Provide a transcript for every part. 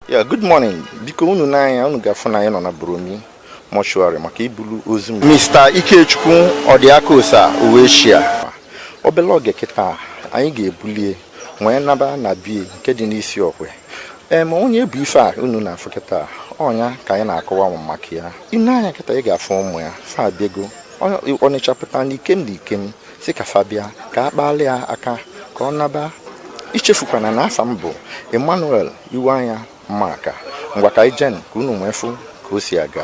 ya good morning dịka unu nee anya unu ga-afụ na anyị nọ na Buromi mọshụarị maka ibulu ozu Mr. Ikechukwu Ọdịakosa Uwechia obele oge kịta anyị ga-ebulie wee naba na bie nke dị n'Isiokwe em onye bụ ife a unu na-afụ kịta ọ nya ka anyị na-akọwa maka ya i nee anya kịta ị ga-afụ ụmụ ya fa abịago ọnịcha pụta na ikem na ikem sị ka fa bịa ka a kpalị ya aka ka ọ naba echefukwana na afa m bụ emmanuel Iweanya Mmaka ngwa ka anyị jee ka unu nwee fụ ka o si aga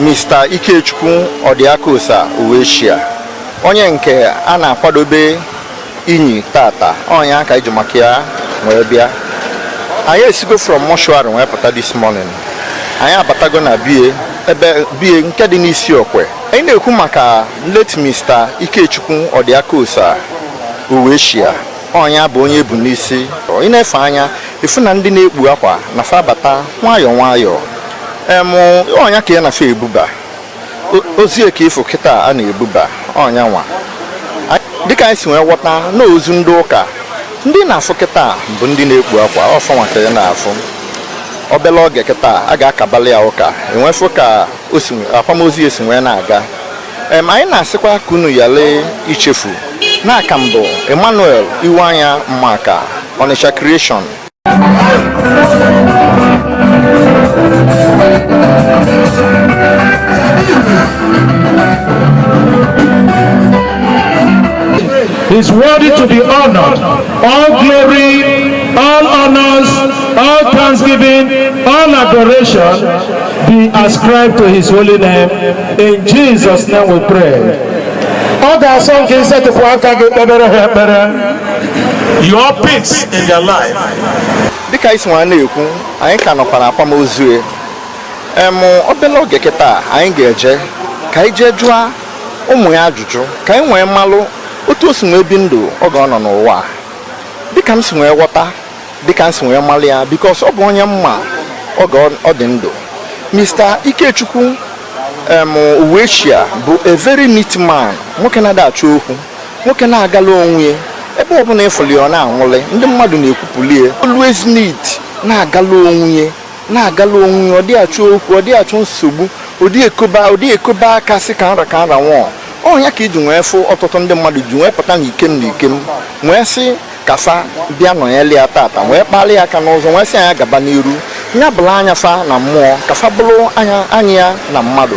Mr. Ikechukwu Odiakosa Uwechia onye nke a na-akwadobe inyi taata ọ nya ka anyị ji maka ya wee bịa anyị esigo from mọshụarị wee pụta this morning anyị abatago na bie ebe bie nke dị n'Isiokwe anyị na-ekwu maka late Mr. Ikechukwu Odiakosa Uwechia ọ nya bụ onye e bu n'isi ị na-efe anya ị fụ na ndị na-ekpu akwa na fa abata nwayọọ nwayọọ ọ nya ka ị na-afụ ebuba ozu ya ka ị fụ kịta a na-ebuba ọ nya nwa dịka anyị si wee ghọta na ozu ndị ụka ndị ị na-afụ kịta bụ ndị na-ekpu akwa ọ fa nwa ka ị na-afụ obele oge kịta a ga-akabalị ya ụka e nwee fụ ka akwamozu ya si wee na-aga em anyị na-asịkwa ka unu yalị ichefu na aka m bụ Emmanuel Iweanya Mmaka Onitsha Creation is worthy to be honored. All glory, all honors, all thanksgiving, all adoration be ascribed to his holy name. In Jesus' name we pray. Ọ ga-asọ nke isetịpụ aka gị kpebere ha ekpere. your peace in their life. dịka anyị si nwee na-ekwu anyị ka nọkwa na akwamozu ya em obele oge kịta anyị ga-eje ka anyị jee jụọ ụmụ ya ajụjụ ka anyị nwee malụ otu o si nwee bi ndụ oge ọ nọ n'ụwa dịka m si nwee ghọta dịka m si nwee malụ ya because ọ bụ onye mma oge ọ- ọ dị ndụ mr ikechukwu em Uwechia bụ a very neat man nwoke na-ada achọ okwu nwoke na-agala onwe ya ebe ọbụla ịfụli ọ na-anwụlị ndị mmadụ na-ekwupụli ya always neat na-agala onwe ya na-agala onwe ya ọ dị achọ okwu ọ dị achọ nsogbu ọ dị ekoba ọ dị ekoba aka sị ka nra ka nra nwụọ ọ ya ka ị ji nwee fụ ọtụtụ ndị mmadụ ji nwee pụta na ikem na ikem nwee sị ka fa bịa nọnyere ya tata nwee kpalị ya aka n'ụzọ nwee sị a nya gaba n'iru nya bụrụ anya fa na mmụọ ka fa bụrụ anya anya ya na mmadụ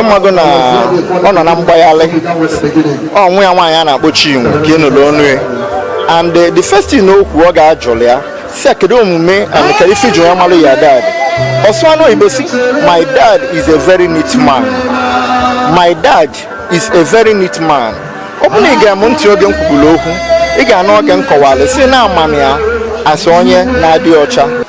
ịmago na ọ nọ na mgbagharị ọ nwa ya nwaanyị a na-akpọ Chinwe ka ị nụlụ ọnụ ya and eh, the first thing o kwu oge a jụlụ ya sị kedu omume and ka ife ji ya malụ your dad ọ sụa ọnụ oyibo sị my dad is a very neat man my dad is a very neat man ọ bụrụ na ị gee m ntị oge m kwuburu okwu ị ga-anụ oge m kọwara sị na ama m ya as onye na-adị ọcha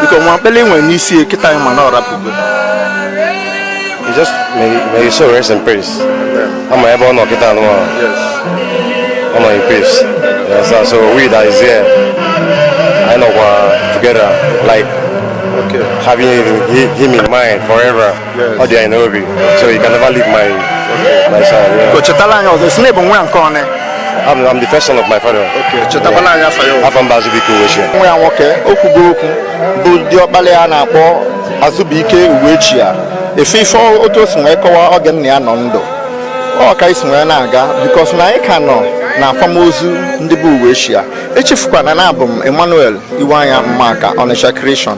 biko nwa mkpele nwere n'isi kịta anyị ma na ọ rapụgo may his soul rest in peace ama m ebe ọ nọ kịta a na ọ nọ in peace yes, so we that is here anyị nọkwa together like having him in mind forever ọ dị anyị n'obi so you can never leave my my side yeah. Ko chetala anyị ọzọ sị na ị bụ nwa nke one I'm, I'm the first son of my father chetakwala anyị afa yị o. afa m bụ azụbike uwechia nwa ya nwoke ekwugo okwu bụ diọkpala ya a na-akpọ azụbụike uwechia ife ife ọ- otu o si wee kọwa oge nna ya nọ ndụ ọ ka anyị si wee na-aga because na anyị ka nọ na akwamozu ndị bụ uwechia echefukwana na abụ m emmanuel iweanya maka ọnịcha creation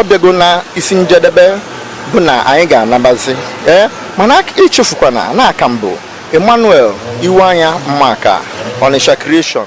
ọ bịago na isi njedebe bụ na anyị ga-anabazi ee mana echefukwana na aka m bụ Emmanuel Iweanya Maka Onitsha Creation